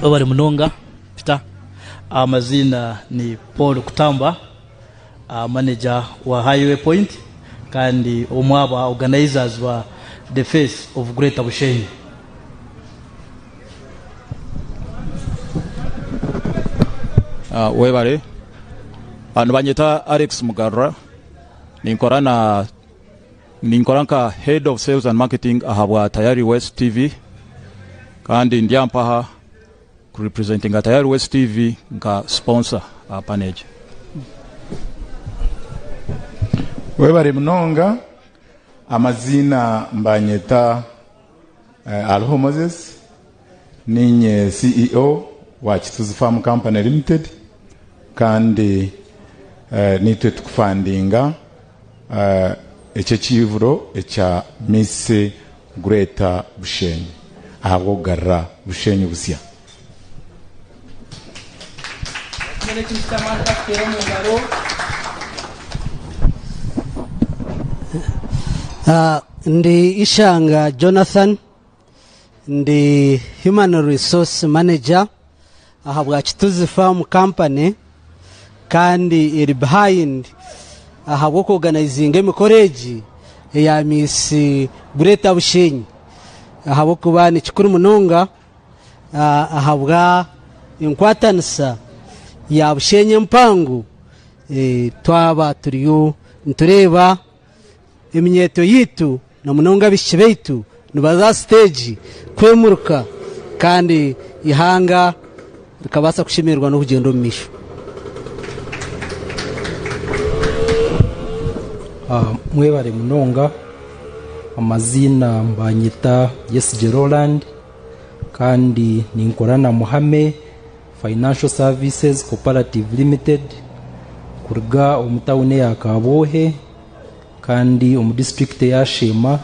Webare munonga Peter. Amaziina ni Paul Kutamba, manager wa Highway Point kandi omwe aba organisers ba The Face of Greater Bushenyi. Webare. Nibanyeta Alex Mugarura. Ninkora na. Ninkora nka Head of Sales and Marketing ahabwa Tayari West TV kandi ndi aha mpaha ku representinga Tayari West TV nka sponsor aha panel egi. Webare munonga, amaziina mbanyeta. Hariho Moses, niinye CEO wa Kituzi Farm Company Limited kandi niitwe tukufandinga eki ekiihuro ekya Miss Greater Bushenyi ahabw'okugarura Bushenyi busya. Ndi Ishanga Jonathan, ndi Human Resource Manager aha bwakituzi Farm Company kandi eri behind ahabw'oku oganaizinga emikoro egi eya Miss Greater Bushenyi ahabw'okuba ni kikuru munonga. ahabwa enkwatanisa ya Bushenyi empango eh, twaba turiyo nitureeba eminyeeto yaitu na munonga abaishiki baitu nibaza aha siteegi kwemuruka kandi ihanga rikabaasa kushemererwa n'okugyenda omu maisho. Mwebare munonga. Amaziina nibanyeta Yesigye Roland kandi ninkora na Muhame Financial Services Cooperative Limited kuruga omu tawuni eya Kabwohe kandi omu disiturikiti eya Sheema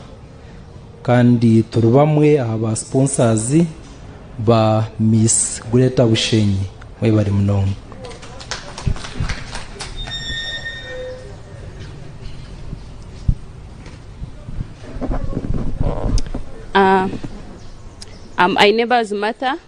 kandi turi bamwe aha ba siponsazi ba Miss Greater Bushenyi. Mwebare munonga. Ah, I'm Ainebazi Martha,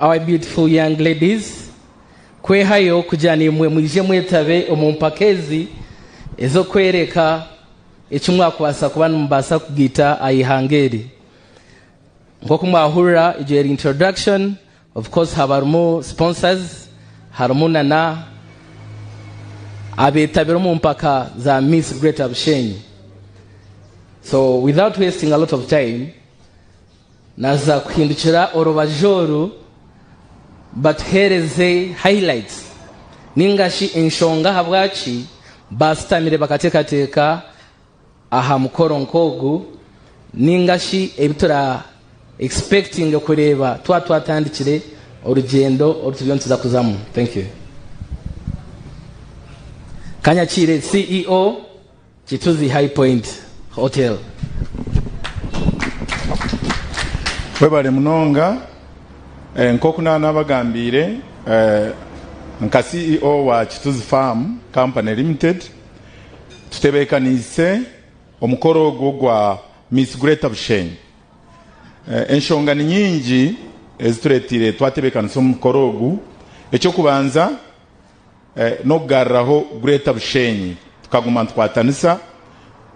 Our beautiful young ladies, kwehayo kugira naimwe mwije mwetabe omu mpaka ezi ez'okwereka eki mwakubaasa kuba nimubaasa kugaita aha ihanga eri. Nk'oku mwahurira egyo yari introduction, of course haba harimu sponsors, harimu na na abeetabire omu mpaka za Miss Greater Bushenyi. So without wasting a lot of time, Naza kuhindukira orubaju oru batuheereze highlights ninga shi enshonga ahabwaki baashutamire bakateekateeka aha mukoro nk'ogu ninga shi ebi tura expectinge kureeba twaba twatandikire orugyendo oru turiyo nituza kuzamu. Thank you. Kanyakire CEO. Kituzi High Point Hotel. Webale munonga, nkoku naba nabagambiire nka CEO wa Kituzi Farm Company Limited, tutebekaniise omukoro ogu ogwa Miss Greater Bushenyi. Enshonga ni nyingi ezitureteire twatebekanisa omukoro ogu, ekyokubanza, n'okugaruraho Greater Bushenyi tukaguma nitukwatanisa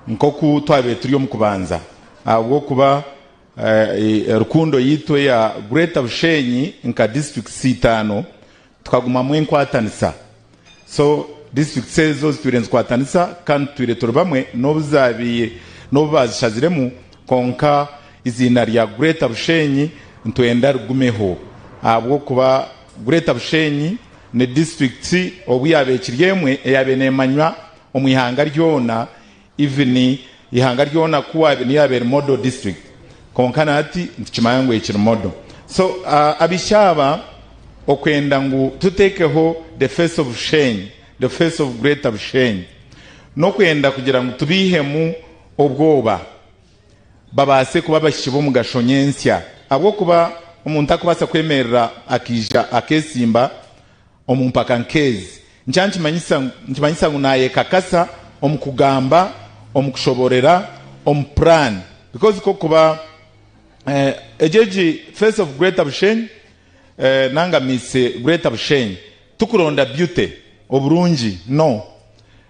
nk'oku twabaire turi omu kubanza ahabw'okuba Rukundo yaitu eya Greater Bushenyi nka districts itaano tukagumamu enkwatanisa so districts ezo zitwire nizikwatanisa kandi tutwire turi bamwe n'obu zaabaire n'obu baazishaziremu kwonka eiziina rya Greater Bushenyi nitwenda rigumeho ahabw'okuba Greater Bushenyi ni disiturikiti obu yaaba ekiri emwe eyaabaire neemanywa omu ihanga ryona even ihanga ryona ku waabaire niyo yaabaire model district kwonka na hati nitukimanya ngu ekiri model so abaishiki aba okwenda ngu tuteekeho the face of Bushenyi, the face of Greater Bushenyi n'okwenda kugira ngu tubaihemu obwoba. babaase kuba abaishiki b'omugasho nyentsya, ahabw'okuba omuntu tarikubaasa kwemerera akaija akeesimba omu mpaka nk'ezi. Nikyo nikimanyisa ngu naayekakasa omu kugamba, omu kushoboorora, omu puraani. Because ku orikuba egyo egi face of Greater Bushenyi nanga Miss Greater Bushenyi, turikuronda beauty, oburungi, no.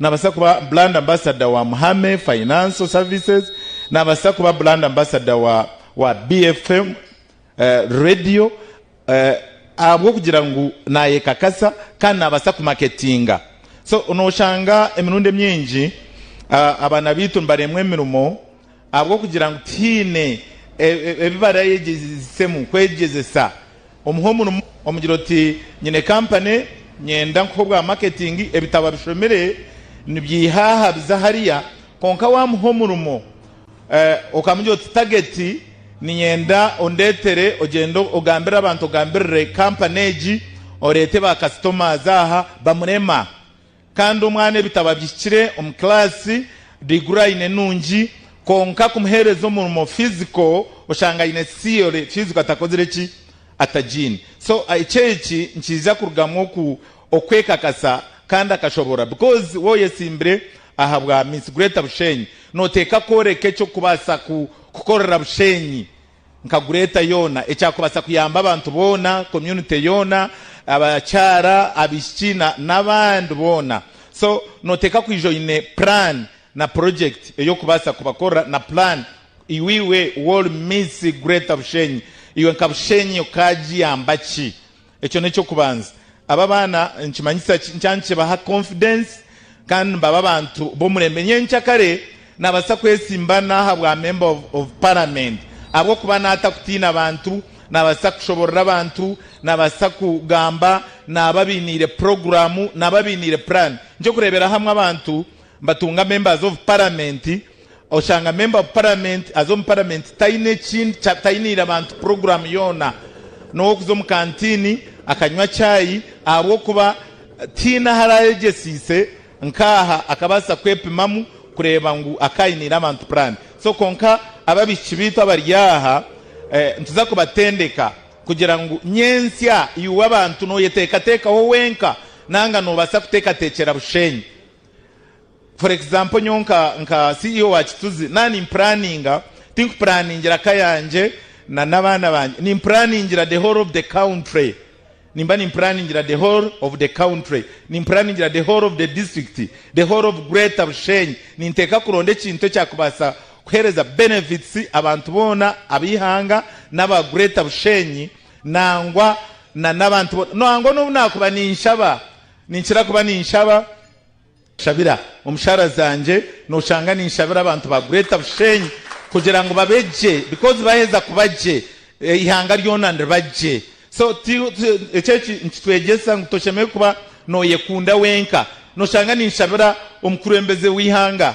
Naabaasa kuba Brand Ambassador wa Muhame Financial Services, naabaasa kuba Brand Ambassador wa wa BFM Radio ahabw'okugira ngu naayekakasa kandi naabaasa kumaketinga. So nooshanga emirundi emingi abaana baitu nibareemwa emirimo. Ahabw'okugira ngu tihaine ebi baraayegyesemu kwegyezesa, omuhe omurimo. Omugire oti, Nyine kampani, nyenda nkuhe obwa maketingi, ebitabo abishomire nibyeiha aha biza hariya. Kwonka waamuha omurimo okamugira oti, Tageti, niinyenda ondeetere ogyende ogambire abantu, ogambirire kampani egi, oreete baakasitomaazi aha, bamurema. Kandi omwana ebitabo abihikire omu kiraasi, diguri aine nungi, kwonka kumuhereza omurimo, physical, oshanga aine theory, physical atakozire ki? Atagiine. So ekyo eki nikiija kurugamu oku okwekakasa kandi akashobora because waba oyetsimbire ahabwa Miss Greater Bushenyi, noteeka kworeka ekyokubaasa ku kukorera Bushenyi nkagureeta yoona ekyakubaasa kuyamba abantu boona, community yoona, abakyara, abaishiki na n'abandi boona. So noteeka kwija oine plan na project ey'okubaasa kubakorera na plan iwe Wall Miss Greater Bushenyi iwe nka Bushenyi okagiyamba ki Ekyo n'eky'okubanza. Abo abaana nikimanyisa ki? Nikiba nikibaha konfidensi kandi nibaba abantu b'omurembe. Nyenkya kare naabaasa kwetsimba naaha bwamemba obu paramenti ahabw'okuba naata kutiina abantu, naabaasa kushoborora abantu, naabaasa kugamba, naaba abainiire puroguramu, naaba abainiire puraani. Eky'okureeberaho hamwe abantu. Mbatunga memba aza ovu paramenti, oshanga memba ovu paramenti aza omu paramenti tayine ekindi kya tayinire abantu puroguramu yoona n'owokuza omu kantini akanywa chai ahabw'okuba tiyine ahu arayegyesiise nk'aha akabaasa kwepimamu kureeba ngu akayinire abantu purani so kwonka ababishiki beitu abari aha nituza kubatendeka kugira ngu nyentsya iwe abantu noyetekatekaho wenka nanga nobasa kutekatekyera bushenyi for example nyowe nka nka CEO wa Kituzi na ni planninga tinku planningira ka yangye na n'abaana bangye ni planningira the whole of the country nimba ni planningira the whole of the country ni planningira the whole of the district the whole of greater Bushenyi ninteka kuronda ekintu ekyakubasa kuhereza benefits abantu boona abihanga naba greater Bushenyi nangwa na n'abantu boona nangwa nobu nakuba ninshaba Ninkira kuba ninshaba. Shabira omushara zangye. Noshanga ninshabira abantu ba Greater Bushenyi kugira ngu babe gye because baheza kuba gye eihanga ryona niriba gye. So eki eki nikitwegyesa ngu toshemereire kuba noyekunda wenka. Noshanga ninshabira omukurembeze weihanga.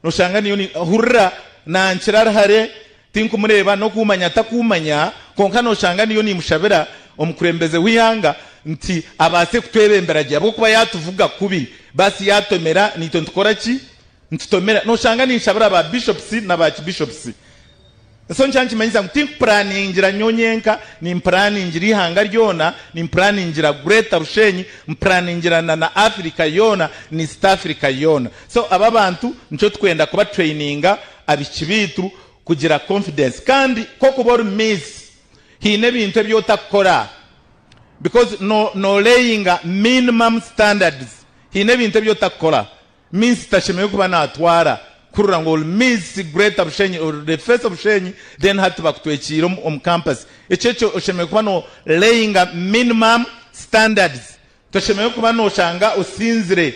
Noshanga niyo ni, hurira, nankira ari hare, tinkumureeba, n'okuumanya takuumanya, kwonka noshanga niyo nimushabira omukurembeze w'eihanga nti abaase kutwebembera gye ahabw'okuba yatuvuga kubi, baasi yatomera, naitwe nitukora ki? Nitutomera. Noshanga ninshabira ba bishops na ba kibishops. So nikyo nikimanyisa ngu timpuraningira nyowe nyenka, nimpuraningira eihanga ryona, nimpuraningira Greater Rushenyi, mpuraningira na na Africa yoona, na East Africa yoona. So abo abantu nikyo tukwenda kuba traininga abishiki baitu kugira confidence. Kandi kokuba ori Miss haine ebintu ebi otakukora because no no layinga minimum standards. Haine ebintu ebi otakukora Minisita ashemereire kuba natwara kurora ngu ori miss greater bushenyi ori the face of bushenyi then hati bakutwekiire omu campus ekyo ekyo oshemereire kuba no layinga minimum standards toshemereire kuba noshanga osinzire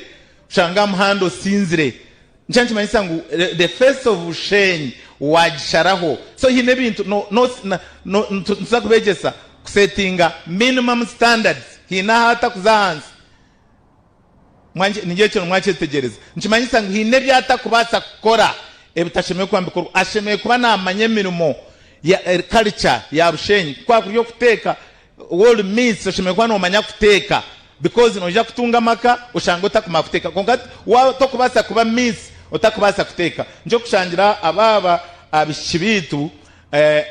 oshange ahamuhanda osinzire nikyo nikimanyisa ngu the face of bushenyi wagisharaho so haine ebintu no no no nituza kubegyesa kusetinga minimum standards haine ahu atakuza ahansi Ningira ekyo na mwakyetegyereza. Nikimanyisa ngu haine ebi atakubaasa kukora ebitashemereire kuba nibikorwa. Ashemereire kuba naamanya emirimo ya karica ya Bushenyi. Ku kwakuri okuteeka, world meets, oshemereire kuba noomanya kuteeka bikozi noija kutunga amaka oshange otakumanya kuteeka. Kwonka waaba tokubaasa kuba meets otakubaasa kuteeka. Nikyo kushangira abaaba abaishiki baitu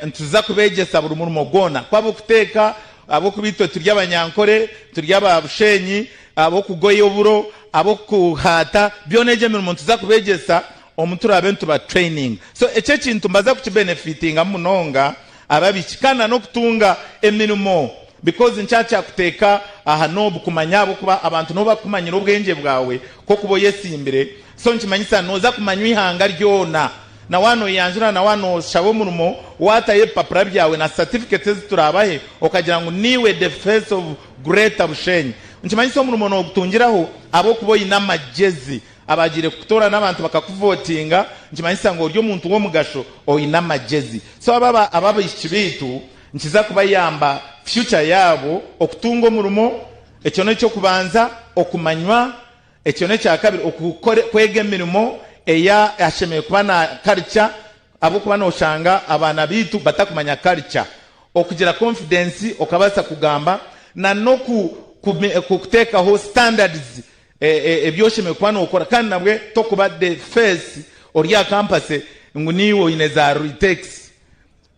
Nituza kubeegyesa buri murimo gwona, ku ab'okuteeka, ahabw'okuba itwe turi abanyankore, turi aba busheenyi, ab'okugoya oburo, ab'okuhaata, byona egyo emirimo nituza kubeegyesa omu turaabe nituba traininga. So ekyo ekintu mbaza kuki benefitingamu munonga ababiki kandi na n'okutunga emirimo because nikyo akyakuteeka aha noobu kumanya ahabw'okuba abantu nibo bakukumanyira obwengye bwawe ku okuba oyesimbire so nikimanyisa noza kumanywa ihanga ryona. Na waanoyanjura na waanoshaba omurimo, waatayo ebipapura byawe na certificate ezi turaabahe okagira ngu niiwe the face of Greater Bushenyi. Nikimanyisa omurimo noogutungiraho ahabw'okuba oine amagyezi. Abaagiire kukutoora n'abantu bakakuvootinga, nikimanyisa ngu ori omuntu w'omugasho, oine amagyezi. So abo aba abaishiki baitu nikiza kubayamba future yaabo okutunga omurimo. Ekyo n'eky'okubanza okumanywa Ekyo n'ekya kabiri, okukore, kwega emirimo ei ashemereire kuba na karica, ahabw'okuba nooshanga abaana baitu batakumanya karica. Okugira konfidensi, okabaasa kugamba, na n'oku, ku, ku, kuteekaho standards ebi oshemereire kuba nookora, kandi nabwe tokuba the face ori aha kampase ngu niiwe oine za ritekisi.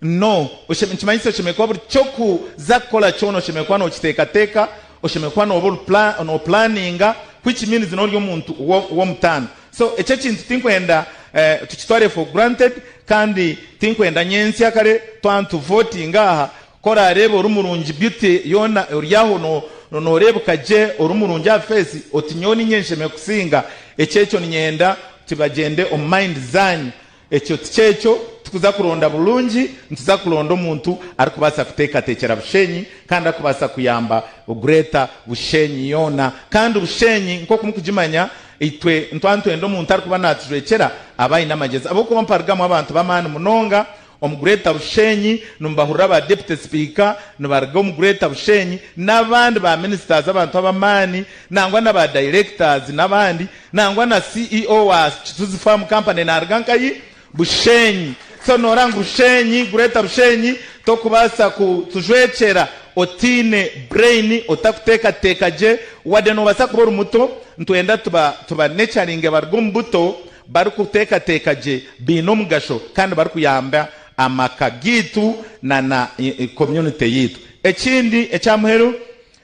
No, nikimanyisa oshemereire kuba buri ky'okuza kukora kyona oshemereire kuba nookiteekateeka, oshemereire kuba nooba ori noopulaaninga, which means n'ori omuntu w'omutaano. So eki ekintu tinkwenda tukitware for granted kandi tinkwenda nyentsya kare twaba nituvootinga aha ku oraareeba ori murungi, beauty yoona ori aho nooreebeka gye, ori murungi aha feesi oti nyowe niinye nshemereire kusinga. Eky'ekyo niinyenda nti bagyende omu mind zaanyu Ekyo ti ky'ekyo. Tikuza kuronda burungi, nituza kuronda omuntu arikubaasa kuteekateekyera Bushenyi kandi arikubaasa kuyamba Greater Bushenyi yoona. Kandi Bushenyi nk'oku mukugimanya, itwe nituba nitwenda omuntu arikuba naatujwekyera abe aine amagyezi ahabw'okuba mparugamu abantu b'amaani munonga omu Greater Bushenyi. Nimubahurira aba Deputy Sipiika, nibaruga omu Greater Bushenyi, n'abandi ba Ministers abantu ab'amaani nangwa na ba Directors n'abandi. Nangwa na CEO wa Kizuzi Farm Company naaruga Nkayi, Bushenyi. So nooreeba ngu Bushenyi, Greater Bushenyi, tokubaasa kutujwekyera otaine brain, otakuteekateeka gye. Wade noobaasa kuba ori muto, nitwenda tuba tubanecaringe baruge omu buto barikuteekateeka gye, baine omugasho kandi barikuyamba amaka gaitu na na community yaitu. Ekindi ekya muheru,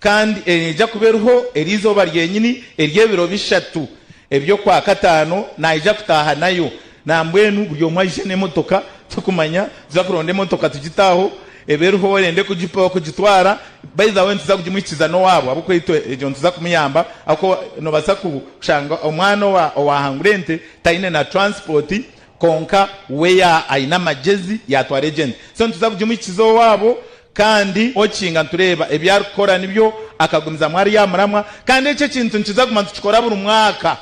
Kandi eneija kuba eriho eri izooba ryenyini ery'ebiro bishatu eby'okwa kataano, naija kutaaha nayo. Nambwenu buri omwe aije n'emotoka, turikumanya, tuza kuronda emotoka tugite aho ebe eriho orende kugitwara, by the way nituza kugimuhikiza n'owaabo ahabw'okuba itwe egyo nituza kumuyamba ahabw'okuba nobaasa kushanga omwana owaahangura ente taine na transport kwonka we aine amagyezi yatwara egyo ente, so nituza kugimuhikiza owaabo Kandi okinga nitureeba ebi arikukora nibyo akagumizamu ari aha muramwa kandi eki ekintu nikiza kuguma nitukikora buri mwaka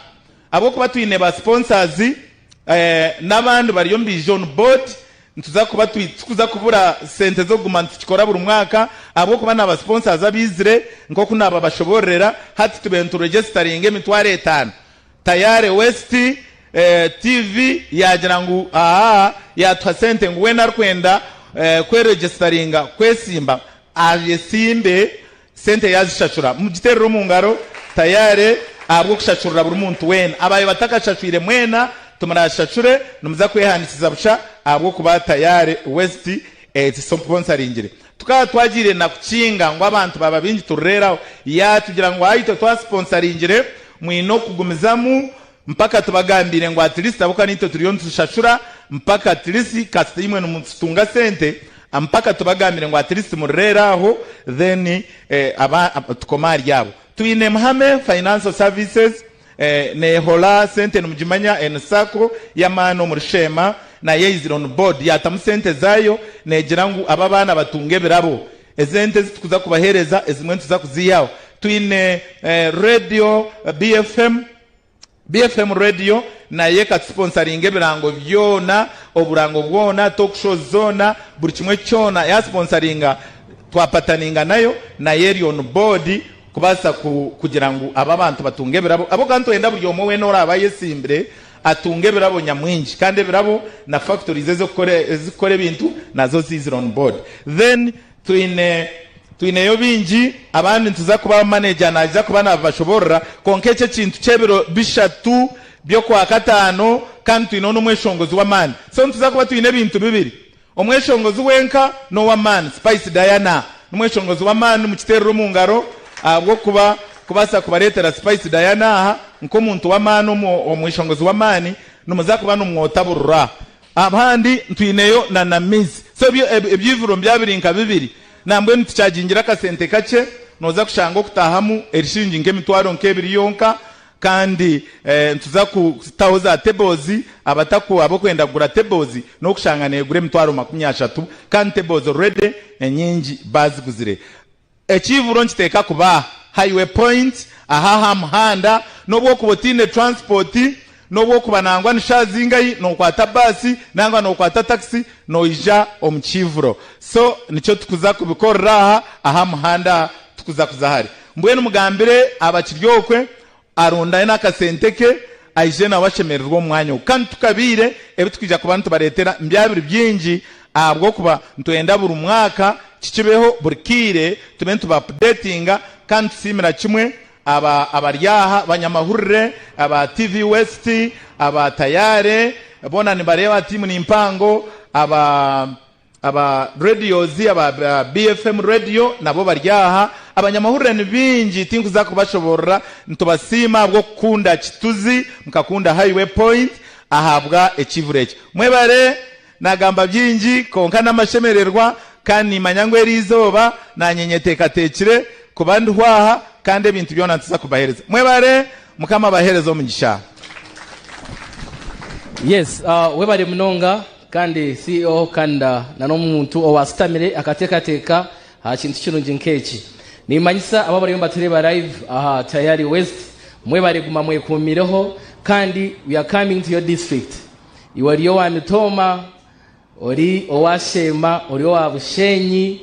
ahabw'okuba twine ba sponsors n'abandi bari omu biija onu board nituza kuba tikuza kubura sente z'okuguma nitukikora buri mwaka ahabw'okuba na ba sponsors abaizire nk'oku naababashoboororera hati tube nitu regestaringa emitwaro etaano Tayari West TV yaagira ngu aha yaatuha sente ngu weena arikwenda kweregisitaringa kwesimba ayesimbe sente yaazishashura mugiterere omu ngaro tayari ahabw'okushashurira buri muntu weena abaayo batakashashwire mwena timurashashure nimuza kwehandikiza busha ahabw'okuba Tayari West ekisomponsaringire. Tukaba twagiire na kukinga ngu abantu baaba baingi turireeraho. Yaatugira ngu ahaitwe twasiponsaringire mwine okugumizamu mpaka tubagambiire ngu atilisiti ahabw'okuba naitwe turiyo nitushashura mpaka atilisiti kasita imwe nimutunga sente mpaka tubagambiire ngu atilisiti murireera aho then tukome ahari abo. Twine Mhame Financial Services. Nehola sente nimugimanya en sacco yamaani omuri sheema nayeyizire on board yatamu sente zaayo negira ngu aba abaana batunge ebirabo ezente ezitukuza kubahereza ezimwe nituza kuziihaho twine radio BFM BFM radio nayo ekatusponsaringa ebirango byoona oburango bwoona talk shows zoona buri kimwe kyoona yasponsaringa twapataninga nayo nayo eri on board Kubaasa kugira ngu abo abantu batunge ebirabo, ahabw'okuba nitwenda buri omwe weena oraabe ayetsimbire atunge ebirabo nyamwingi, kandi ebirabo na factories ezirikukora ebintu nazo ziizire on board. Then twineyo baingi abandi nituza kubaha manager naaza kuba naabibashoboorora, kwonka eki ekintu ky'ebiro bishatu by'okwakataano kandi twineho n'omweshongozi w'amaani. So nituza kuba twine ebintu bibiri, Omweshongozi wenka n'ow'amaani. Spice Diana n'omweshongozi w'amaani mukiterere omu ngaro ahabw'okuba kubaasa kubareetera Spice Diana aha nk'omuntu w'amaani omweshongozi w'amaani nimuza kuba nimwotaburura. Abandi ntwineyo na na Miz. So ebyo ebyivuro nibyaba biri nka bibiri nambwenu tukyajingira akasente kakye noza kushanga okutahamu erishingi nk'emitwaro nk'ebiri yonka Kandi nituza kutaho za teboozi, abataku ab'okwenda kugura teboozi n'okushanga negura emitwaro makumi ashatu kandi teboozi already enyingi baziguzire. Ekiibuuro nkiteeka kuba aha highway point, aha aha muhanda, n'obu okuba otaine transport, n'obu okuba nangwa nishazingahi nokwata bus nangwa nokwata taxi noija omu kiibuuro. So nikyo tukuza kubikorera aha aha muhanda tukuza kuza hare. Mbwenu mugambire Abakiryokwe arundaine akasente ke aije nawe ashemererwe omu mwanya ogu. Kandi tukabiire ebi twija kuba nitubareetera nibyabire byingi ahabw'okuba nitwenda buri mwaka kikibeho buri kaire tube nitubapudeetinga kandi tusiimira kimwe aba abari aha banyamahurire aba TV West, aba Tayare boona nibareeba tiimu ni mpango, aba. Aba radios aba BFM radio nabo bari aha. Abanyamahurire ni baingi tinkuza kubashoborora. Nitubasiima ahabw'okukunda Kituzi, mukakunda Highway Point ahabwa ekiivura eki. Mwebare. Nagamba byingi kwonka n'amashemererwa kandi nimanya ngu eri izooba nanye nyeteekateekire kuba ndiho aha kandi ebintu byona nituza kubahereza. Mwebare. Mukama abahereze omugisha. Yes, webare munonga. Kandi CEO Kanda na n'omuntu owaashutamire akateekateeka aha kintu kirungi nk'eki. Niimanyisa abo abariyo nibatureeba live aha Tayari West, mwebare guma mwekuumireho kandi we are coming to your district. Iwe ori owa Mitooma, ori owa Sheema, ori owa Busheenyi,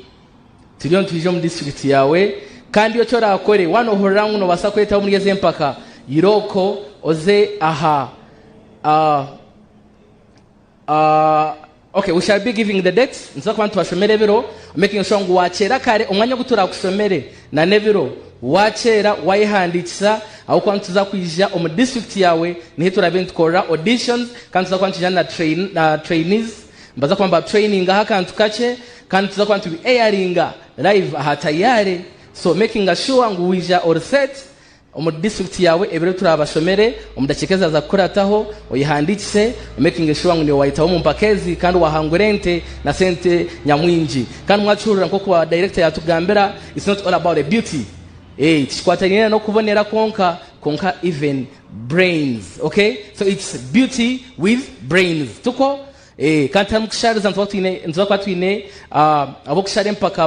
turiyo nitwija omu district yaawe kandi eki oraakore waanohurira ngu noobaasa kwetaba omuri ezi empaka, irooko oze aha. Okay, we shall be giving the date. Nituza kuba nitubashomera ebiro. Making sure ngu wakyera kare omwanya ogu turakushomere na n'ebiro wakyera wayehandikisa aho kuba nituza kwija omu district yawe nihi turabe nitukorera auditions kandi tuza kuba nitwija na train, na trainees baza kuba ba training aha kantu kakye kandi tuza kuba nitubi airinga live aha tayare so making sure ngu wija or set Omuri district yaawe ebiro turaabashomere omu dakiika ezaaza kukurataho, oyehandiikise, omakinge shuwa ngu niiwe waayetaho omu mpaka ezi kandi waahangura ente na sente nyamwingi. Kandi mwakihurira nk'oku ba director yaatugambira, it's not all about the beauty, eeh tikikwataniire n'okubonera kwonka kwonka even brains, okay so it's beauty with brains, tuko? Kandi tiharimu kushariza, nitubaasa kuba twine ab'okushara empaka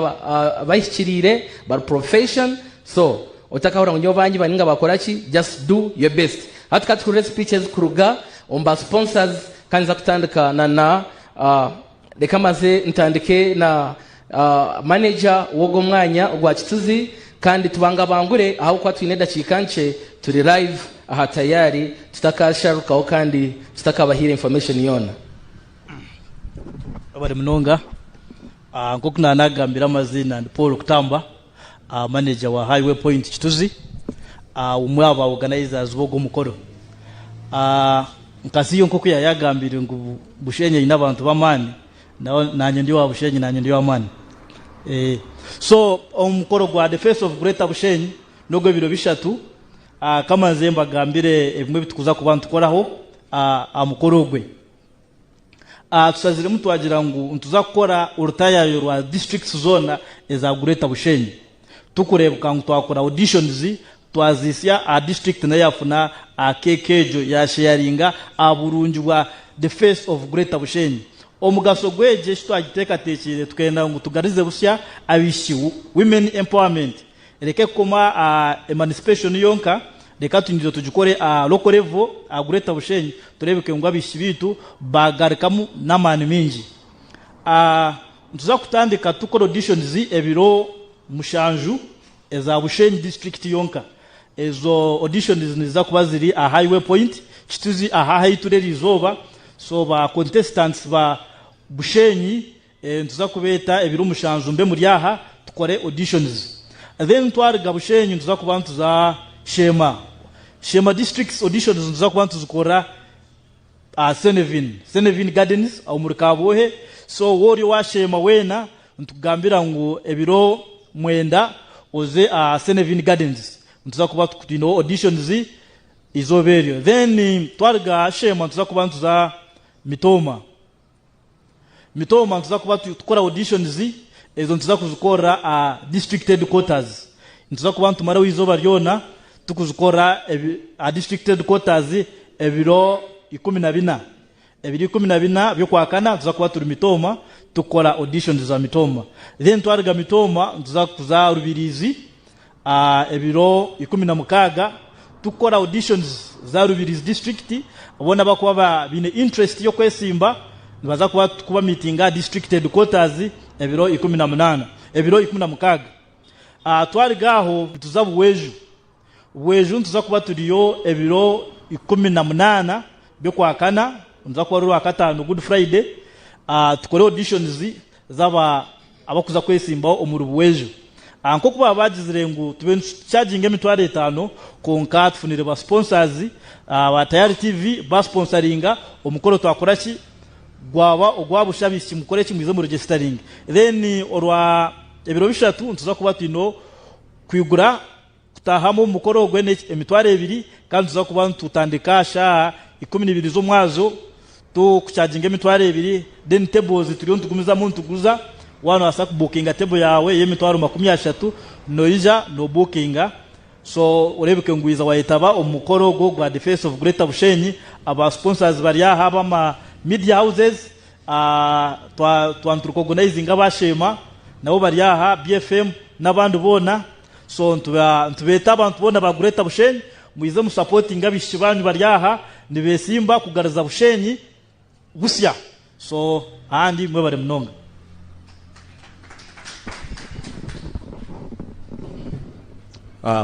abahikiriire, bari profession, so otakahurira ngu nyowe bangi bari ninga bakora ki, just do your best. Hati ka tuhurire speech ezikuruga omu ba sponsors, kandi ninza kutandika na na, reka maze ntandike na. Manegya w'ogwo mwanya ogwa Kituzi, Kandi tubangabangure ahabw'okuba twine edakiika nkye turi live aha tayaari tutakaasharukaho kandi tutakabahaire information yoona. Webare munonga. Nk'oku naanagambire amaziina ndi Paul Kutamba, Manegya wa High Way Point Kituzi, omwe aha ba Organizers b'ogwo mukoro. Nka CEO nk'oku yaayagambiire ngu Bushenyi eine abantu b'amaani, Nawe nanye ndi owa Bushenyi nanye ndi owa Mani eeh so omukoro gwa the face of greater Bushenyi nogwe biro bishatu aah kamanze mbagambire ebimwe ebitukuza kuba nitukoraho aah amukoro ogwe aah tusaziremu twagira ngu nituza kukora orutayayo rwa districts zona eza greater Bushenyi. Tukureebuka ngu twakora auditions, twaziitsya aha district nayo yafuna aha keeki egyo yaasheyaringa aha burungi bwa The Face of Greater Bushenyi. Omugasho gw'egi eki twagiteekateekyeire tukenda ngu tugarize busya abaishiki, Women Empowerment, ereke kukoma aha emancipation yonka, reka tunyijire tugikore aha local level aha Greater Bushenyi tureebeke ngu abaishiki baitu baagarukamu n'amaani maingi. Nituza kutandika tukora auditions ebiro mushanju eza Bushenyi district yonka. Ezo auditions niziza kuba ziri aha Highway Point, Kituzi aha ahu eitura erizooba. So ba contestants ba Bushenyi nituza kubeeta ebiro mushanju mbe muri aha tukore auditions. Then twaruga Bushenyi nituza kuba nituza Sheema. Sheema district's auditions nituza kuba nituzikorera aha Senevin, Senevin Gardens, omuri Kabwohe. So wowe ori owasheema weena, nitukugambira ngu ebiro mwenda oze aha Senevin Gardens. Nituza kuba twine auditions eizooba eryo. Then twaruga aha sheema nituza kuba nituza Mitooma. Mitooma nituza kuba tukora auditions ezo nituza kuzikorera aha district headquarters. Nituza kuba nitumaraho eizooba ryona tukuzikorera aha district headquarters ebiro ikumi na bina. Ebiro ikumi na bina by'okwakana nituza kuba turi Mitooma tukora auditions za Mitooma. Then twaruga Mitooma nituza kuza Rubiriizi Ebiro ikumi na mukaaga tukukora auditions za Rubirizi district boona abakuba baine interest y'okwesimba nibaza kuba tukuba meetinga aha district headquarters ebiro ikumi na munaana ebiro ikumi na mukaaga. Twaruga aho nituza Bweju. Bweju nituza kuba turiyo ebiro ikumi na munaana by'okwakana niruza kuba ruri Rwakataano Good Friday tukore auditions. zaabo abarikuza kwetsimbaho omuri Bueju. Aha nk'oku baaba baagizire ngu tube nitucaaginga emitwaro etaano, kwonka tufunire ba sponsors, aba Tayari TV baasponsaringa, omukoro twakora ki? Gwaba ogwa busha abaishiki mukore ki? Mwije mu regestaringe. Then orwa ebiro bishatu nituza kuba twine kwigura. Kutaahamu omu mukoro ogwe ni emitwaro ebiri kandi nituza kuba nitutandika aha shaaha ikumi na ibiri z'omwazyo tukucaginga emitwaro ebiri then tables turiyo nitugumizamu nituguza waaba nobaasa kubukinga table yaawe y'emitwaro makumi ashatu noija nobukinga so oreebeke ngu waiza wayetaba omu mukoro ogwo gwa Defence of Greater Bushenyi aba sponsors bari aha ab'ama media houses twa twa niturukogonaizinga aba Sheema nabo bari aha BFM n'abandi boona. So nitubeeta abantu boona ba Greater Bushenyi mwije mu supportinge abaishiki baanyu bari aha nibesimba kugariza Bushenyi busya so handi mwebare munonga.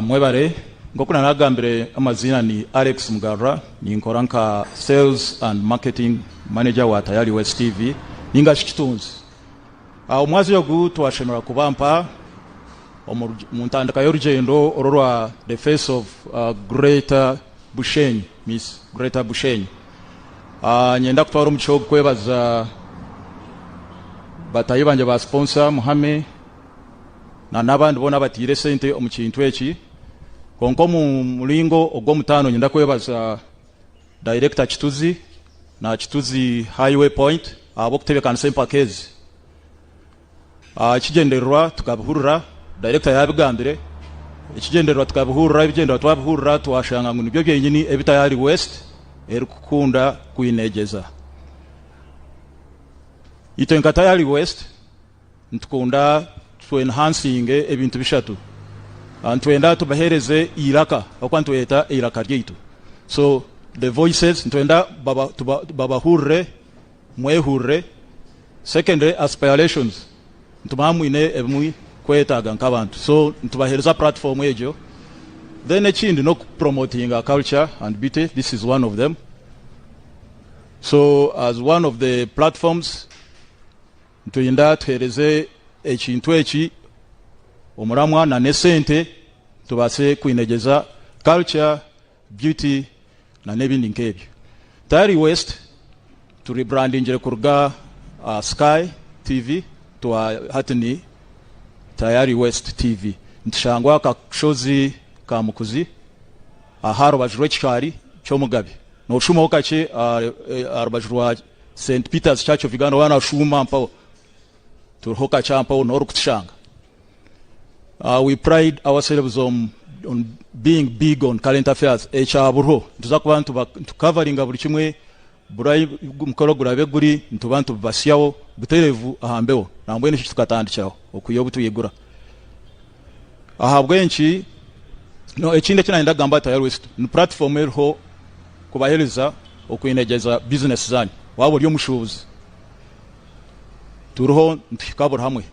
Mwebare, nk'oku naragambire amaziina ni Alex Mugarura ninkora nka Sales and Marketing Manager wa Tayari West TV ninga shi Kitunzi. Omwazyo ogu twashemerera kuba mpa omu ntandika y'orugyendo oru orwa The Face of Greater Bushenyi, Miss Greater Bushenyi. Niinyenda kutwara omugisha ogu kwebaza bataahi bangye ba sponsor Muhame nana abandi boona abataire esente omu kintu eki. Kwonka omu muringo ogw'omutaano niinyenda kwebaza. Director Kituzi na Kituzi Highway Point ahabw'okutebekanisa empaka ezi. Aha kigyendererwa tukabihurira, Director yaabigambire, ekigyendererwa tukabihurira, ebigyendererwa twabihurira twashanga ngu nibyo byenyini ebi Tayari West erikukunda kwinegyeza. Itwe nka Tayari West, Nitukunda tu enhancinge ebintu bishatu. Nitwenda tubahereze eiraka ahabw'okuba nitweyeta eiraka ryaitu. So the voices nitwenda babahurire, mwehurire. Secondly aspirations nitumanya mwine ebimuri kwetaaga nk'abantu so nitubahereza platform egyo. Then ekindi n'oku promotinga culture and beauty this is one of them. So as one of the platforms. Nitwenda tuheereze ekintu eki omuramwa na n'esente tubaase kwinegyeza culture, beauty na n'ebindi nk'ebyo. Tayari West tu rebrandingire kuruga aha Sky TV twa hati ni Tayari West TV. Nitushangwa aha kashozi ka Mukuzi aha rubaju rw'ekishaari ky'omugabe. Nooshumaho kakye aha rubaju rwa. Saint Peter's Church of Uganda waaba nooshuuma mpaho turiho kakye aha mpaho n'orikutushanga. We pride ourselves on on being big on current affairs ekya buriho nituza kuba nituba nitukavaringa buri kimwe buri ahi omukoro guraabe guri nituba nitubibatsyaho butereevu aha mbeho nambwenu nikyo tukatandikiraho okuhika obu twaigura. Ahabw'enki? No, ekindi eki nayenda kugamba aha Tayari West, ni puratifomu eriho kubahereza okwinegyeza bizinesi zaanyu. Waaba ori omushuubuzi, turiho nituhika buri hamwe.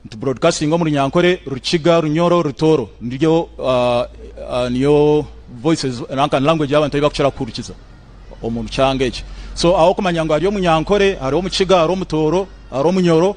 Nituburodikasinga omu Runyankore, Rukiga, Runyoro, Rutooro. Niryo niyo voices nanka language ei abantu ei barikukira kuhurikiza omu kyanga eki. So, ahabw'okumanya ngu hariyo Omunyankore, hariho Omukiga, hariho Omutooro, hariho Omunyoro,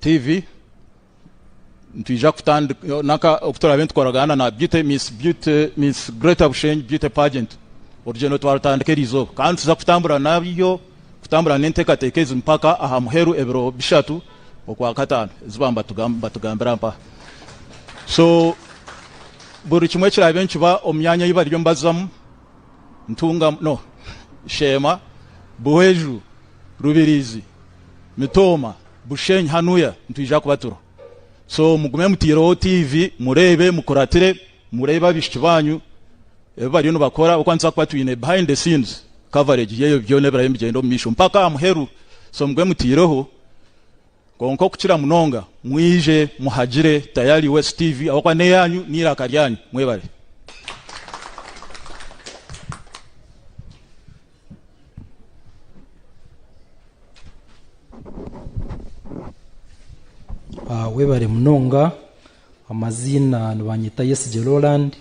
Tiivi, nitwija kutandika naka oku turaabe nitukoragana na Beauty Miss Beauty Miss Greater Bushenyi Beauty Pageant. Orugyendo twarutandika eri izooba kandi nituza kutambura naryo, kutambura n'enteekateeka ezi mpaka aha muheru ebiro bishatu Okwakataano, ezi baaba nibatugambira mpaha. So buri kimwe kiraabe nikiba omu myanya ei bariyo nibazamu. Ntunga no Sheema, Buhweju, Rubirizi, Mitooma, Bushenyi hanuya nitwija kubatura so mugume muteireho TV mureebe mukuratire mureebe abaishiki banyu ebi bariyo nibakora ahabwokuba nituza kuba twine behind the scenes coverage yebyo byona ebiraabe nibigyenda omumaisho mpaka aha muheru so mugume muteireho. Kwonka okukira munonga mwije muhagire Tayari West TV ahabw'okuba n'eyaanyu n'eiraka ryanyu. Mwebare. Webare munonga. Amaziina nibanyeta Yesigye Roland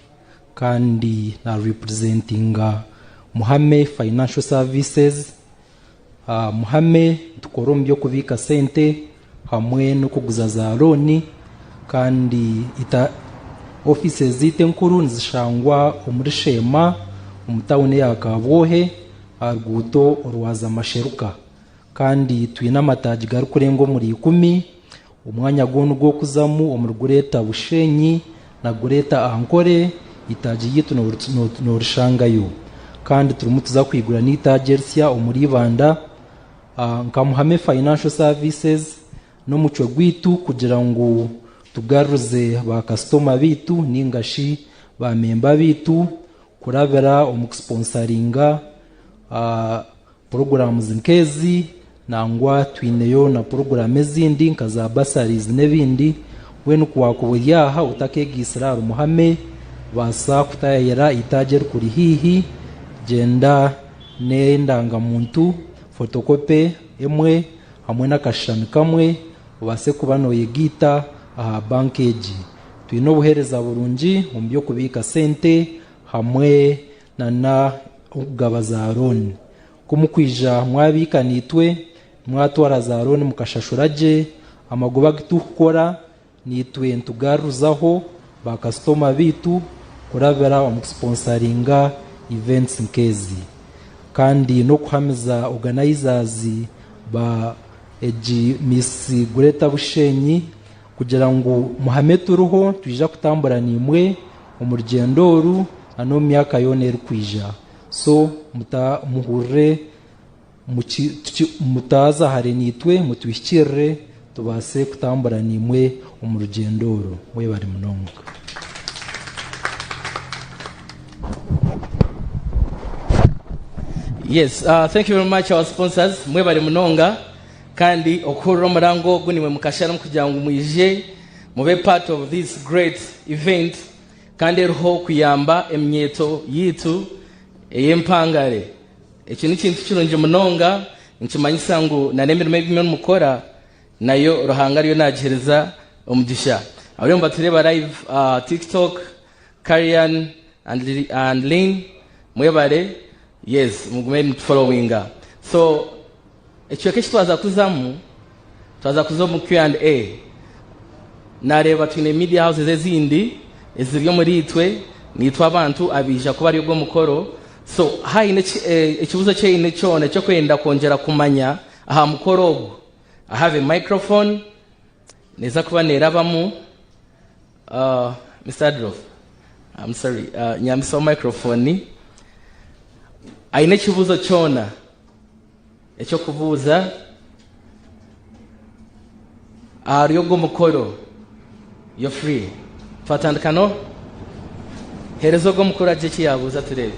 kandi na representinga Muhame Financial Services. Muhame nitukora omu by'okubiika sente hamwe n'okuguza za looni kandi ofiisi zaitu enkuru nizishangwa omuri Sheema omu tauni eya Kabwohe aha ruguuto orwaza Masheruka kandi twine amataagi garikurenga omuri ikumi. Omwanya gwona ogw'okuzamu omuri gureeta Bushenyi na gureeta Ankore, eitaagi ryaitu noorishangayo. Kandi turimu tuza kwigura n'eitaagi erisya omuri Ibanda nka Muhame Financial Services n'omucwe gwaitu kugira ngu tugarurize ba kasitoma baitu nainga shi ba memba baitu kurabira omu kusiponsaringa. Puroguraamu zi nk'ezi nangwa twineyo na puroguraamu ezindi nka za bursaries n'ebindi. Mbwenu ku waakuba ori aha otakeegaitsire aha Rumuhame, baasa kutayayira eitaagi erikuri haihi. Gyenda n'endangamuntu, fotokope emwe hamwe n'akashushani kamwe obaase kuba nooyegaita aha banka egi. Twine obuheereza burungi omu by'okubiika sente hamwe na n'okugaba za looni. Ku mukwija mwabiika naitwe, mwatwara za looni mukashashura gye amagoba agu turikukora, naitwe nitugarurizaho baakasitoma baitu kurabira omu kusiponsaringa events nk'ezi kandi n'okuhamiza oganayizaazi ba egi Miss Gureta Bushenyi kugira ngu muhame turiho, twija kutambura naimwe. omu rugyendo oru n'omu myaka yoona erikwija. So muhurire mutaaza hare naitwe mutwihikirire tubaase kutambura naimwe omu rugyendo oru. Mwebare munonga. Mube part of this great event kandi eriho kuyamba eminyeeto yaitu ey'empangare. Eki n'ekintu kirungi munonga nikimanyisa ngu nana emirimo ei murimu kukora nayo Ruhanga ariyo nagiheriza omugisha. Abariyo nibatureeba live aha Tiktok Karian and Lynn mwebare yes mugume mutu followinga so ekicweka eki twaza kuzamu twaza kuza omu Q and A nareba twine media houses ezindi eziri omuri itwe nitwe abantu abaija kuba ari ogo mukoro so haine ekibuzo eki oyine kyona eki okwenda kwongyera kumanya aha mukoro ogu I have a microphone neza kuba nerabamu Mister Adolf am sorry nyambisa microphone aine ekibuzo kyona ekyokubuuza ahari ogo mukoro you're free twatandika no hereza ogo mukoro agire eki yabuuza tureebe.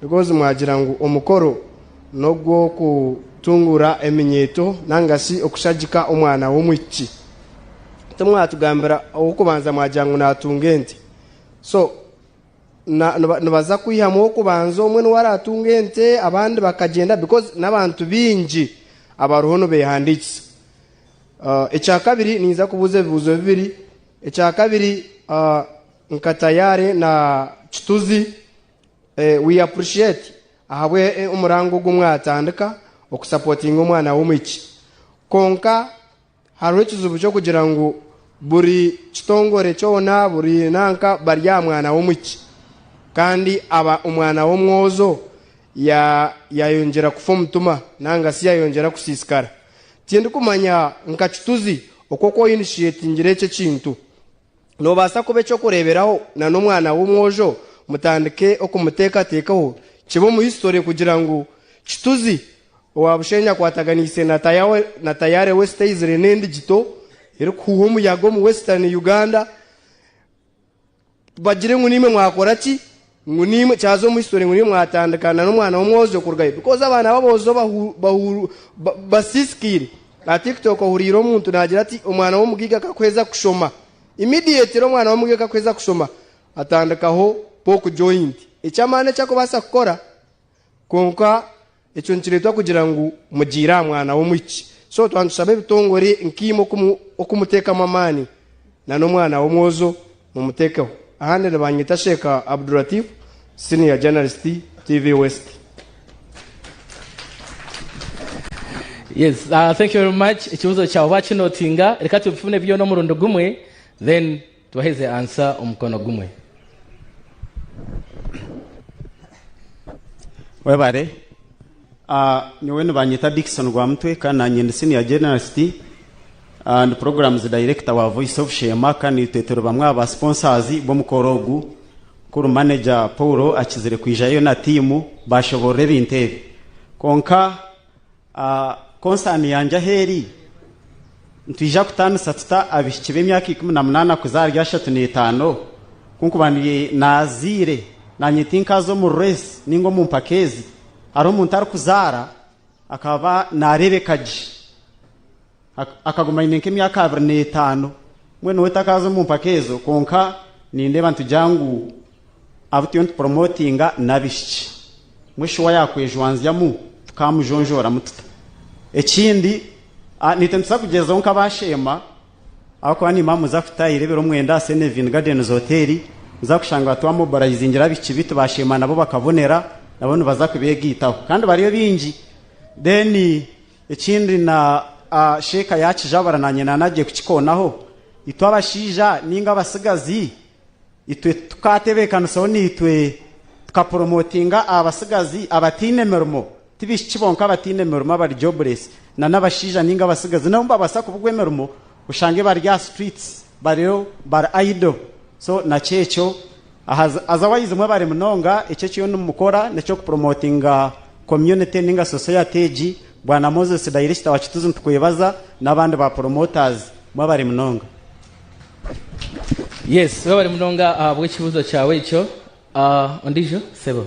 Because mwagira ngu omukoro n'ogw'okutunguura eminyeeto nangasi okushagika omwana w'omwishiki. Timwatugambira ow'okubanza mwagira ngu naatunga ente. So nibaza kwihamu ow'okubanza omwe niwe araatunga ente abandi bakagyenda because n'abantu baingi abariho nibeehandiikisa. Ekyakabiri ninyija kubuuza ebibuuzo bibiri. Ekyakabiri nka tayaare na kituzi We appreciate ahabwe omurango ogu mwatandika oku supportinga omwana w'omwishiki. Konka hariho ekizibu ky'okugira ngu buri kitongore kyona buri nanka bari aha mwana w'omwishiki kandi aba omwana w'omwozo ya yayongyera kufa omutima nanga si yayongyera kusisikara. Tindikumanya nka kituzi oku oku oinishetingire eki ekintu. Noobaasa kuba eky'okureeberaho na n'omwana w'omwojo mutandike okumuteekateekaho, kibe omu hisitore kugira ngu kituzi owa bushenyi akwataganiise na tayaare wesitaizire n'endigito erikuhuuha omuyaga omu Western Uganda bagire ngu naimwe mwakora ki? Ngu naimwe kyaza omu history ngu naimwe mwatandika na n'omwana w'omwojo kurugayo because abaana b'aboojo basiisikaire aha tiktok ohuriire omuntu naagira ati omwana w'omugaiga akakuheza kushoma immediately omwana w'omugaiga akakuheza kushoma atandikaho poke joint eky'amaani eki arikubaasa kukora kwonka Ekyo nikireetwa kugira ngu mugiire aha mwana w'omwishiki. So twaba nitushaba ebitongore nk'eimwe oku muteekamu amaani, nan'omwana w'omwojo mumutekeho. Ahandi nibanyeta Sheikh Abdulatif, Senior Journalist, TV West. Yes, thank you very much. Ekibuzo kyawe bakinotinga. Reka tubifune byona omurundi gumwe then. Tubaheze ansa omukono gumwe. Webare. Ah, nyowe nibanyeta Dickson Rwamutwe kandi nanye ndi senior journalist and programs director wa Voice of Sheema kandi itwe turi bamwe aha ba sponsors b'omukoro ogu. Mukuru manager Paul akizire kwijayo na team bashoborora ebintu ebi. Kwonka, Konsaani yangye ahu eri, nitwija kutaanisa tuta abaishiki b'emyaka ikumi na munaana kuza ahari ashatu n'etaano? Ku nkuba ndi naazaire, naanye tinkaaza omu ruresi nainga omu mpaka ezi. Hariho omuntu arikuzaara akaba naareebeka gye. Akaguma aine nk'emyaka abiri n'etaano. Mbwenu we takaaza omu mpaka ezo kwonka nindeeba nitugira ngu abu turiyo nitupromotinga n'abaishiki. Mbwenu shi waaba yaakwejwanzyamu tukaamujonjooramu tuta? Ekindi naitwe nituza kugyezaho nk'abaasheema ahabw'okuba niimba mbuza kutaayayo ebiro mwenda aha Senevin Gardens Hotel, nza kushanga twamobilizingire abaishiki baitu baasheema nabo bakabonera nabo nibaza kubeegaitaho kandi bariyo baingi. Ekindi na sheeka yaakijabura naanye naanagye kukikoonaho, itwe abashaija nainga abatsigazi, itwe tukaatebeekanisaho naitwe tukapuromootinga abatsigazi abataine mirimo, ti baishiki bonka abataine mirimo abari jobless, nana abashaija nainga abatsigazi nabo nibabaasa kubugwa emirimo. oshange bari aha streets bariyo bari idle so nakyo ekyo otherwise mwebare munonga eki ekiriyo nimukora nekyo ku promotinga community ninga society egi bwana Moses director wa Kituzi nitukwebaza nabandi ba promoters mwebare munonga. Yes webare munonga ahabw'ekibuuzo kyawe ekyo. Ondiijo sebo.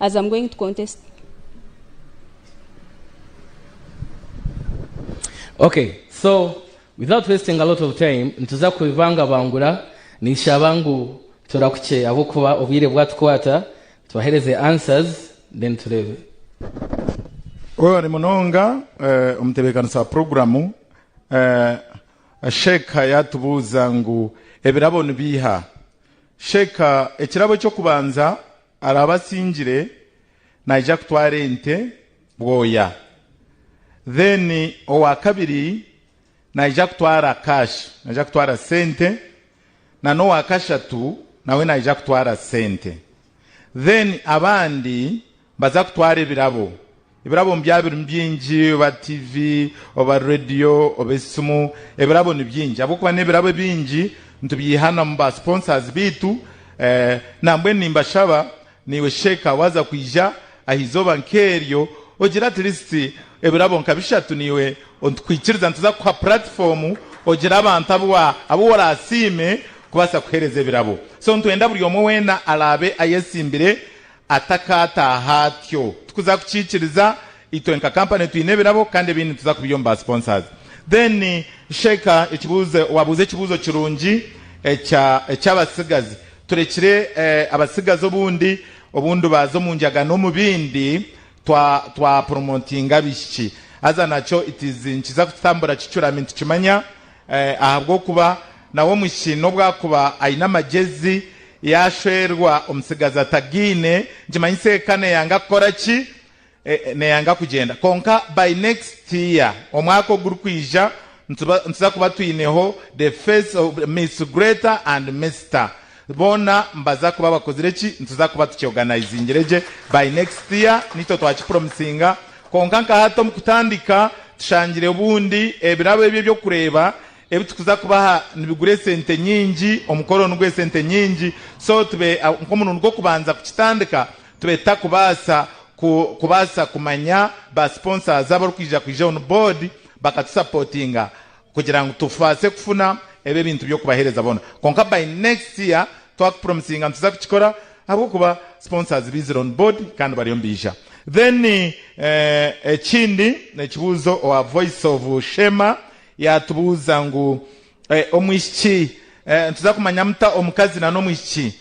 As I'm going to contest. Okay so without wasting a lot of time nituza kubibangabangura ninshaba ngu turakukye ahabw'okuba obwire bwatukwata tubahereze answers then tureebe. Webale munonga omutebekanisa wa puroguramu. Sheikha yatubuuza ngu ebirabo nibiiha? Sheikha, ekirabo eky'okubanza Araabe asingire, naija kutwara ente bwoya. Then owa kabiri naija kutwara cash, naija kutwara sente, na n'owa kashatu nawe naija kutwara sente. Then abandi nibaza kutwara ebirabo. Ebirabo nibyaba birimu bingi, oba tiivi, oba reediyo, oba esimu. Ebirabo ni bingi. Ahabw'okuba n'ebirabo ebingi, nitubyihanamu ba sponsors baitu. Nambwenu nimbashaba naiwe sheeka waaza kwija aha izooba nk'eryo, ogire at least ebirabo nka bishatu naiwe nitukwikiriza nituza kukuha platform ogire abantu abu abu woraasiime kubaasa kuheereza ebirabo. So nitwenda buri omwe weena araabe ayetsimbire Atakaataaha atyo, tukuza kukiikiriza. Itwe nka company twine ebirabo kandi ebindi nituza kubiha omu ba sponsors. Then Sheikha ekibuuzo, waabuuza ekibuuzo kirungi ekya eky'abatsigazi. Turekire abatsigazi obundi obundu baaza omu njaga n'omu bindi twa twa promotinga abaishiki. Haza nakyo it is nikiza kututambura kicuramye nitukimanya Ahabw'okuba nawe omwishiki n'obu akuba aine amagyezi, yaashwerwa omutsigazi atagaine, nikimanyisa eka neeyanga kukora ki? Neeyanga kugyenda. Kwonka by next year, omwaka ogurikwija, nituza kuba twineho the face of Miss Greta and Mister Boona nibaza kuba bakozire ki? Nituza kuba tukyorganizingire gye. By next year niitwe twakipromisinga. Kwonka nka hati omu kutandika tushangire obundi ebirabo ebi eby'okureeba ebi tukuza kubaha nibigura esente nyingi, omukoro nigwo esente nyingi. So tube nk'omurundi gw'okubanza kukitandika, tube tutakubaasa ku kubaasa kumanya ba sponsors abarikwija kwija on board bakatusapotinga. kugira ngu tubaase kufuna ebi ebintu by'okubaheereza boona kwonka by next year twakupromisinga nituza kukikora ahabw'okuba sponsors baizire on board kandi bariyo nibaija then ekindi ekibuuzo owa voice of Sheema yaatubuuza ngu omwishiki nituza kumanya muta omukazi na n'omwishiki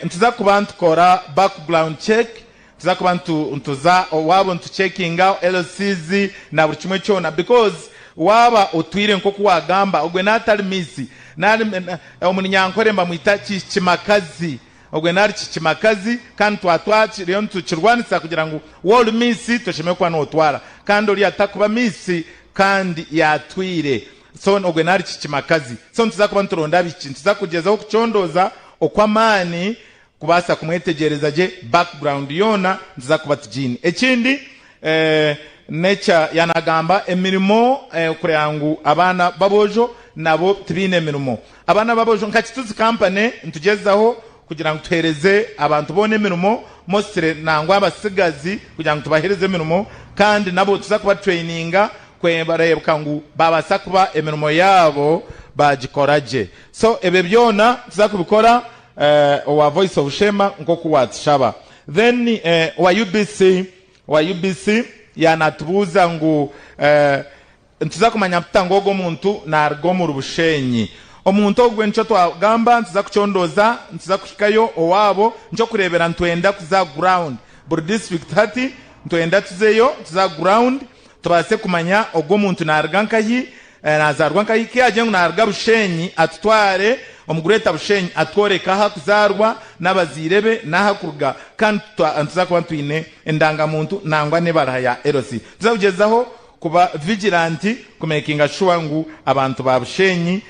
Nituza kuba nitukora background check, nituza kuba nituza owaabo nituchekinga LCs na buri kimwe kyona because waaba otwire nk'oku waagamba ogwe naaba atari miisi, omunyankore mbamwita kikimakazi, ogwe naaba ari kikimakazi kandi twaba twariyo nitukirwanisa kugira ngu waaba ori miisi toshemereire kuba nootwara kandi oriya takuba miisi kandi yaatwire. So ogwe nari kikimakazi. So nituza kuba nituronda abishiki. Nituza kugyezaho kucondooza okw'amaani kubaasa kumwetegyereza gye background yoona nituza kuba tugiine. Ekindi nekya ya nagamba emirimo kureba ngu abaana b'aboojo nabo tibaine emirimo. Abaana b'aboojo nka Kituzi company nitugyezaho kugira ngu tuhereze abantu boona emirimo mostly nangwa abatsigazi kugira ngu tubahereze emirimo kandi nabo tuza kuba traininga Kwonka nibareebeka ngu baabaasa kuba emirimo yaabo baagikora gye. So ebyo byona nituza kubikora owa Voice of Sheema nk'oku waatushaba. Then owa UBC, owa UBC yaanaatubuuza ngu nituza kumanya tuta ngu ogwo muntu naaruga omuri Busheenyi. Omuntu ogwo nikyo twagamba nituza kucondooza, nituza kuhikayo owaabo. Ni ky'okureebera nitwenda kuza ground, buri district hati nitwenda tuzeyo, tuze aha ground. Tubaase kumanya ogu omuntu naaruga nkahi, nazaarwa nkahi. Ku yaagira ngu naaruga Bushenyi, atutware omu Greater Bushenyi atworeke ahu arikuzaarwa, n'abazaire be, n'ahu arikuruga. Kandi nituza kuba twine endangamuntu nangwa n'ebaraha ya LC. Nituza kugyezaho kuba vigilant kumekinga shuwa ngu abantu ba Bushenyi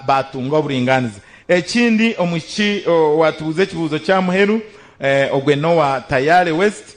baatunga oburingaaniza. Ekindi omwishiki owaatubuuza ekibuuzo ky'aha muheru, ogwe n'owa Tayare West.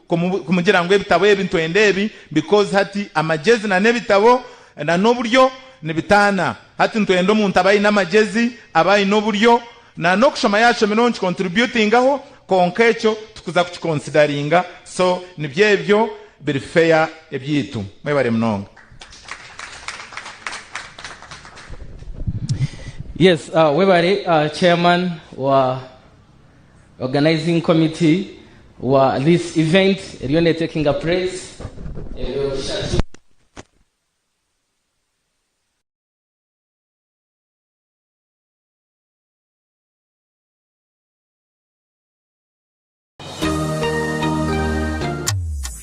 Ku mugira ngu ebitabo ebi ntwenda ebi because hati amagezi na n'ebitabo na n'oburyo nibitaana hati ntwenda omuntu abe aine amagezi abe aine oburyo na n'okushoma yashomireho nki contributingaho kwonka ekyo tukuza kuki consideringa so nibyo ebyo biri fair ebyaitu mwebare munonga. Yes webare chairman wa. Organizing committee wa this event eriyo netakinga praise ebiro bishatu.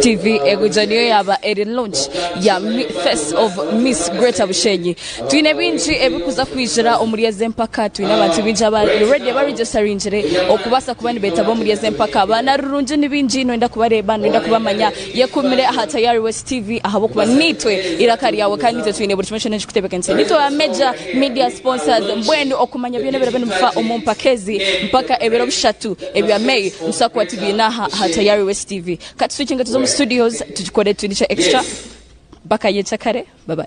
TV egugya niyo yaaba eri launch ya face of miss greater bushenyi twine bingi ebikuza kwigira omuri ezi empaka twine abantu bingi abari ready ba registeringire okubasa kuba nibetaba omuri ezi empaka abaana rurungi ni bingi noyenda kubareba noyenda kubamanya yekumire aha tayari west TV ahabwokuba nitwe iraka ryawe kandi nitwe twine buri kimwe kyona ekikutebekanise nitwe ba major media sponsors mbwenu okumanya byona ebirabe nibifa omu mpaka ezi mpaka ebiro bishatu Ebya May nitubaasa kuba tubiine aha aha Tayari West TV. Ka tuswikinge tuze omu studios tugikore etundi kya extra. Mpaka nyenkya kare. Bye bye.